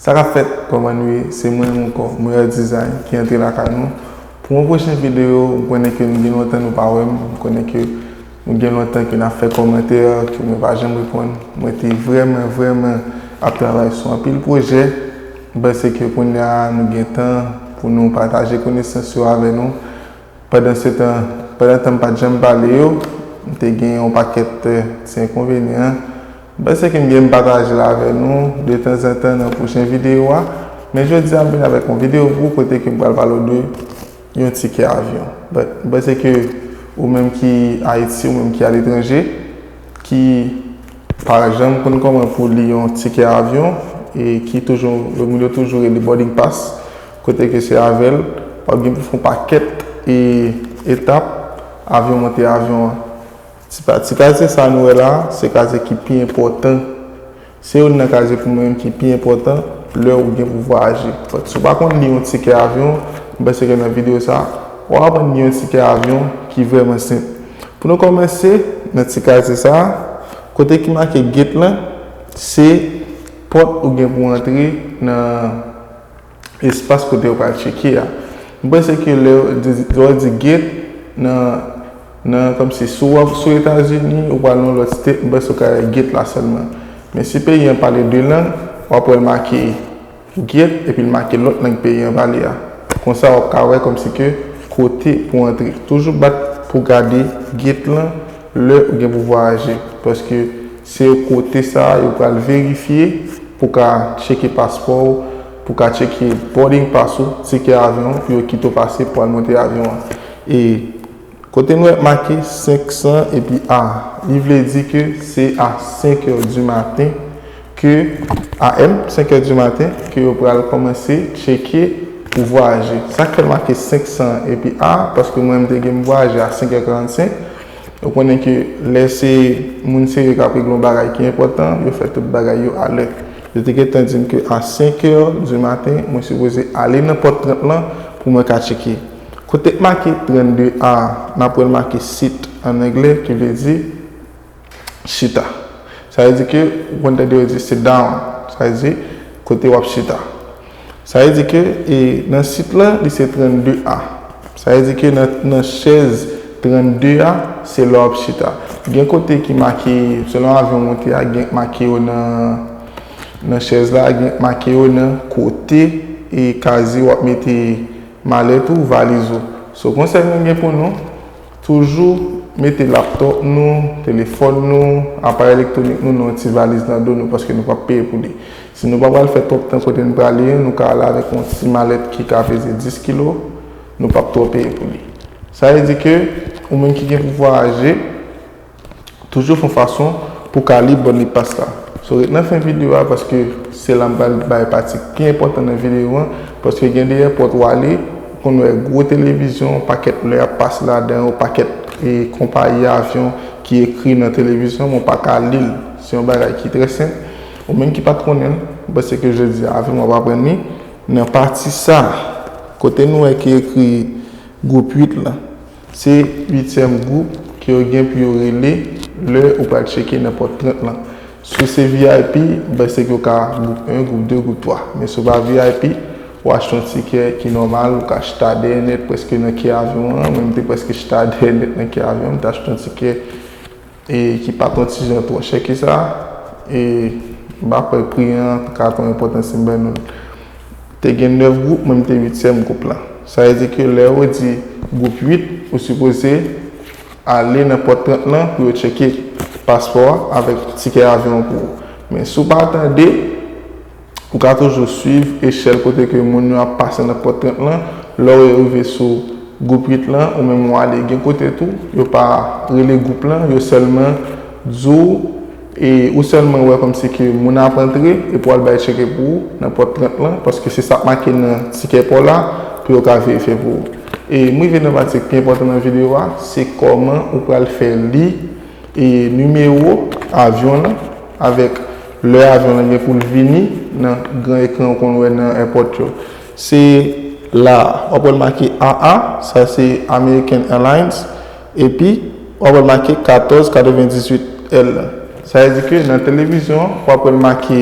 Sa kap fèt kòman nou ye se mwen menm ankò Moya Design ki antre lakay nou pou yon pwochen videyo m konnen ke nou gen lontan nou pa wèm m konnen ke Nou gen lontan ke nap fè kòmantè ke mwen pa janm reponn. Mwen te vrèman vrèman ap travay sou anpil pwojè. Mwen panse ke kounya nou gen tan pou nou pataje konesans yo avè nou. Pandan se tan, pandan tan m pat janm pale yo, m te gen yon pakèt ti enkonvenyan. M panse ke m gen m pataje l avè nou de tan zan tan nan pwochen videyo a. Men jodi a m vin avèk yon videyo pou ou kote ke m pral pale w de. yon tikè avyon but m panse ke ou menm ki ayiti ou menm ki aletranje ki pa janm konn kòman pou li yon tikè avyon e ki toujou yo moun yo toujou rele boarding pass kote ke se avèl wap gen pou fon pakèt e etap avyon monte avyon an ti kazye sa nou wè la se kazye ki pi enpòtan Se youn nan kazye pou mwen menm ki pi enpòtan lè ou gen pouvwa aji. But si w pa konn li yon tikè avyon, m panse ke nan videyo sa, w ap aprann li yon tikè avyon ki vrèman senp. Pou nou kòmanse nan ti kazye sa, kote ki make gate lan, se pòt ou gen pou antre nan espas kote yo pral tcheke a. M panse ke lè yo di gate nan nan kòmsi si w ap sou Etazini ou pral nan yon lòt state m panse w ka wè gate la sèlman. Men si peyi an pale 2 lang w ap wè l make gate epi l make lòt lang peyi an pale a. Konsa w ap ka wè kòmsi ke kote pou w antre. Toujou bat pou w gade gate lan lè ou gen pou vwayaje paske Se yo kote sa a yo pral verifye pou ka tcheke paspò ou, pou ka tcheke boarding pass ou, tikè avyon ou pou yo kite w pase pou al monte avyon an. E kote m wè make 500 epi a, li vle di ke se a 5 è di maten ke, AM, 5 è di maten ke yo pral kòmanse tcheke pou vwayaje. Sa k fè l make 500 epi a, paske mwen m te gen m vwayaje a 5 è 45, Yo konnen ke lè se moun serye k ap regle yon bagay ki enpòtan, yo fè tout bagay yo a lè. Yo te gen tan di m ke a senkè di maten, mwen sipoze ale nan pòt 30 lan pou mwen ka tcheke. Kote k make 32 a, n ap wè l make sit, an angle, ki vle di chita. Sa vle di ke ou konn tande yo di sit down, sa vle di kote w ap chita. Sa vle di ke nan sit la li se 32 a. Sa vle di ke nan chèz 32 a se la w ap chita. Gen kote ki make, selon avyon w monte a, gen k make yo nan chèz la, gen k make yo nan kote e kaziye w ap mete malèt ou, valiz ou. So konsèy mwen gen pou nou. Toujou mete laptop nou, telefòn nou, aparèy elektwonik nou nan yon ti valiz nan do nou paske nou pap peye pou li. Si nou pa pral fè twòp tan kote n prale an, nou ka ale avèk yon ti malèt ki ka peze 10 kilo, nou pap twò peye pou li. Sa vle di ke ou menm ki gen pou vwayaje, Toujou fon fason pou ka li bonne passe la. So ret nan fen video a paske se la m pral bay pati k pi enpòtan nan video an paske gen de èpòt w ale ou konn wè gwo televizyon pakèt lè ap pase ladan yo pakèt e konpayi avyon ki ekri nan televizyon men w pa ka li l se yon bagay ki trè senp ou menm ki pat konnen l m panse ke jodi a avè m w ap aprann li nan pati sa kote nou wè ki ekri gwoup 8 lan. Se uityèm gwoup ke yo gen pou yo rele lè ou pral tcheke nan pòt 30 lan. Si w se vip, bay se ke w ka gwoup 1, gwoup 2, gwoup 3. Men si w pa vip, ou achte yon tikè ki nòmal, ou ka chita dèyè nèt prèske nan ke avyon an, mwen m te prèske chita dèyè nèt nan ke avyon an, m te achte yon tikè. E ki pa ton ti jan twò chè ke sa, e m pa kwè pri an ka ton enpòtan si m bay non l. Te gen 9 gwoup, mwen m te uityèm gwoup la. Sa vle di ke lè yo di gwoup 8, ou sipoze ale nan pòt 30 lan pou yo tcheke paspò a avèk tikè avyon an pou ou. Men si w pa tande. Ou ka toujou swiv echèl kote ke moun yo ap pase nan pòt 30 lan, lè yo rive sou gwoup 8 lan ou menm ou ale. Gen kote tou, yo pa rele gwoup lan, yo sèlman di w, e ou sèlman wè kòmsi ke moun ap antre epi w al bay tcheke pou ou nan pòt 30 lan, paske se sa k make nan tikè pa w la pou yo ka verifye pou ou. E m rive nan pati ki pi enpòtan nan videyo a, se kòman ou pral fè li. nimewo avyon lan avèk lè avyon lan gen pou l vini nan gran ekran ou konn wè nan èpòt yo. Se la a. W ap wè l make AA, sa se American Airlines, epi w ap wè l make 1498L. Sa vle di ke nan televizyon an, w ap wè l make.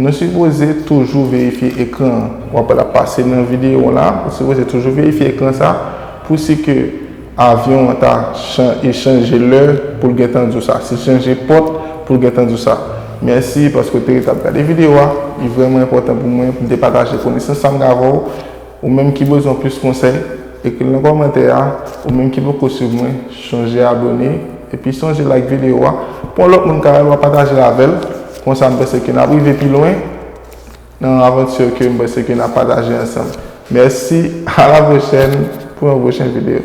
Nou sipoze toujou verifye ekran an. Wap wè lap pase nan videyo an la. Ou sipoze toujou verifye ekran sa pou si ke avyon an ta e chanje lè pou l gentan di w sa. Si l chanje pòt pou l gentan di w sa. Mèsi paske w te rete ap gade videyo a. Li vrèman enpòtan pou mwen pou m te pataje konesans sa m gen avè w. Ou menm ki bezwen plis konsèy, ekri l nan kòmantè a, ou menm ki poko swiv mwen, chonje abone, epi sonje like video a, pou yon lòt moun ka wè l, wap pataje l avè l, konsa m panse ke nap rive pi lwen nan aventure ke m panse ke nap pataje ansanm. Mèsi, a la pwochèn pou yon pwochen video.